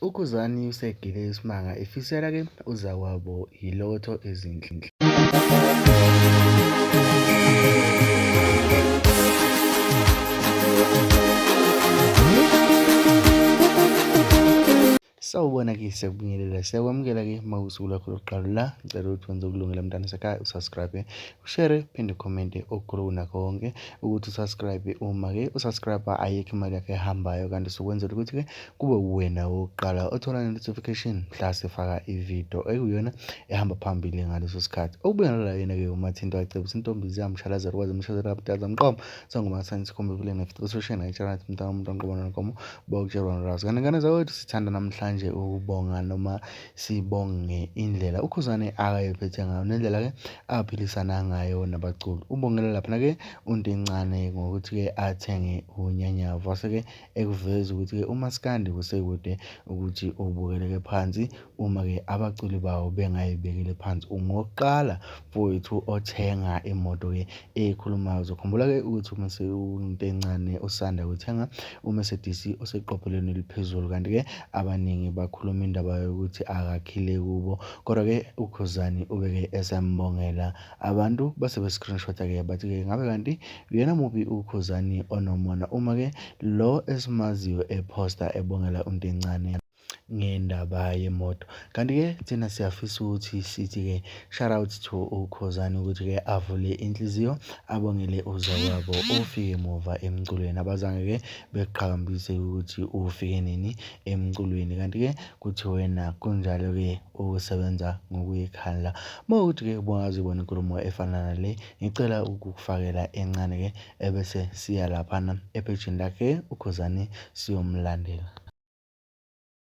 UKhuzani usegile isimanga efisela ke uzakwabo yilotho ezinhle. Sawubona ke siyakubingelela siyakwamukela ke uma usuku lakho lokuqala la ngicela ukuthi wenze ukulungela mntana sekhaya usubscribe ushare phinde ukhomente okukhulu kunakho konke ukuthi usubscribe uma ke usubscribe ayikho imali yakho ehambayo kanti sokwenzela ukuthi ke kube uwena wokuqala othola ne-notification mhla sifaka ividiyo ekuyona ehamba phambili ngaleso sikhathi okubuya nalala yena-ke umathinto acebisa intombi ziyamshalazela kwaze mshazela abudala mqomo sangomathani sikhombe vile nefit ososhe nayitshalati mntana umuntu anqobo nonkomo bawutshelwa nolwazi kanti ngane zakwethu sithanda namhlanje ukubonga noma sibonge indlela ukhuzane akayephethe ngayo nendlela-ke aphilisana ngayo nabaculi ubongele laphana-ke untincane ngokuthi-ke athenge unyanyavu wase-ke ekuveza ukuthi-ke umaskandi kusekude ukuthi ubukeleke phansi uma-ke abaculi bawo bengayibekile phansi ungokuqala mfowethu othenga imoto-ke ekhulumayo uzokhumbula-ke ukuthi uma sewunto encane usanda kuthenga umercedes oseqophelweni eliphezulu kanti-ke abaningi bakhuluma indaba yokuthi akakhile kubo kodwa-ke ukhuzani ubeke esembongela abantu base be-screenshot-a ke bathi-ke ngabe kanti uyena muphi ukhuzani onomona uma ke lo esimaziyo ephosta ebongela untencane ngendaba yemoto kanti-ke thina siyafisa ukuthi sithi-ke shout out to ukhozane ukuthi-ke avule inhliziyo abongele uzakwabo ofike muva emculweni abazange-ke beqhakambise ukuthi ufike nini emculweni kanti-ke kuthi wena kunjalo-ke ukusebenza ngokuyikhandla mawukuthi-ke ubungazi bona inkulumo efana nale ngicela ukukufakela encane-ke ebese siya laphana ephejini lakhe ukhuzani siyomlandela